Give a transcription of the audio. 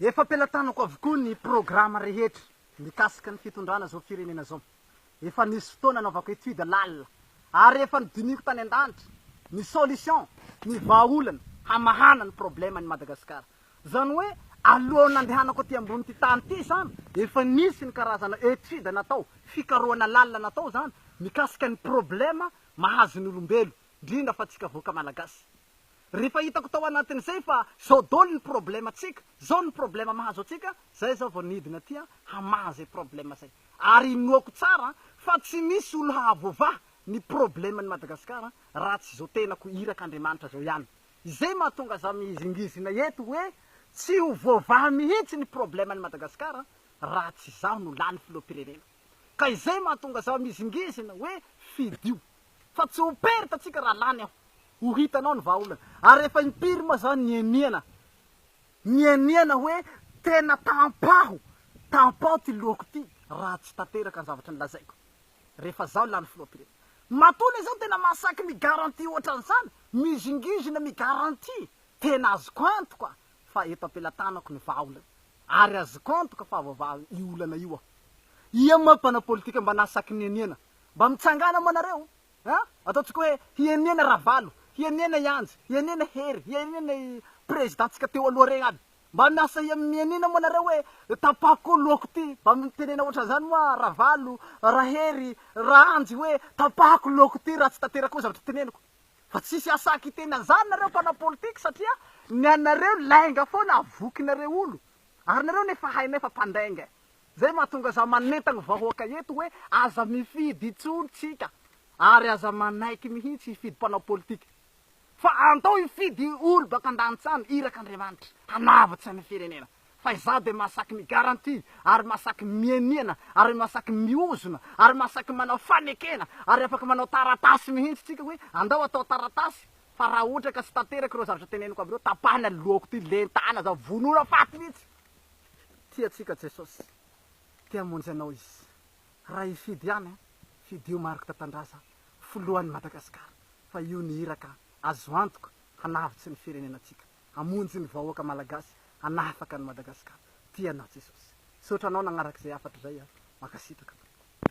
Efa am-pelatanako avokoa ny programa rehetra mikasika ny fitondrana izao firenena izao. Efa nisy fotoana anaovako étude lalina ary efa nodinihiko tany an-danitra ny solution, ny vahaolana hamahana ny problème an'i Madagasikara. Izany hoe alohan'ny nandehanako aty ambonin'ity tany ity izany efa nisy ny karazana étude natao, fikarohana lalina natao izany mikasika ny problème mahazo ny olombelo, indrindra fa antsika vahoaka malagasy. Rehefa hitako tao anatin'izay fa zao dol ny problema tsika, zao ny problema mahazo antsika, zay zaho vao nidina aty hamaha zay problema zay. Ary inoako tsara fa tsy misy olo hahavoavaha ny probleman'i Madagascar raha tsy zao tenako iraka Andriamanitra zao ihany. Izay mahatonga za mihizingizina eto hoe tsy ho voavaha mihitsy ny probleman'i Madagascar raha tsy zaho no lany filoham-pirenena. Ka izay mahatonga zaho mihizingizina hoe fidio. Fa tsy ho perte antsika raha lany aho. Ho hitanao ny vahaolana. Ary efa impiry moa zany nianiana nianiana hoe tena tampaho tampaho ty lohako ity raha tsy tanteraka ny zavatra nolazaiko rehefa zaho lany filoham-pirenena. Matoa le zaho tena mahasaky mi-garantie ohatran'izany, mizingizina mi-garantie. Tena azoko antoka fa eto am-pelatanako ny vahaolana. Ary azoko antoka fa havoavaha io olana io aho. Ia moa mpanao politika mba nahasaky nianiana Mba mitsangàna moa nareo a! Ataontsika hoe hienena Ravalo, hienena i Anjy, hienena Hery, hienena i Prezidantsika teo aloha regny aby. Mba miasa mienena moa nareo hoe tapahako koa lohako ty. Mba mitenena ohatran'izany moa Ravalo, Rahery, Raanjy hoe tapahako lohako ty raha tsy tanteraka koa zavatra teneniko. Fa tsisy asahy kiteny an'izany nareo mpanao politika satria ny anareo lainga foana avokinareo olo. Ary nareo nefa hainay fa mpandainga e! Zay mahatonga za manentagna vahoaka eto hoe aza mifidy intsony tsika ary aza manaiky mihitsy hifidy mpanao politika fa andao hifidy olo baka andanitsany iraka Andriamanitra hanavotsa ny firenena fa izaho de mahasaky mi garantie ary mahasaky mieniana ary mahasaky miozona ary mahasaky manao fanekena ary afaka manao taratasy mihitsy tsika hoe andao atao taratasy fa raha ohatra ka tsy tanteraka ireo zavatra teneniko aby ireo tapahana ny lohako ty lentana za vonona faty mihitsy. Tia antsika Jesosy, te hamonjy anao Izy. Raha hifidy ihany an, fidio Marc Tatandraza filohan'i Madagasikara fa io ny iraka azo antoka hanavotsy ny firenenantsika, hamonjy ny vahoaka Malagasy, hanafaka an'i Madagasikara. Tia anao Jesosy. Misaotra anao nagnaraka izay hafatra izay an. Mankasitraka.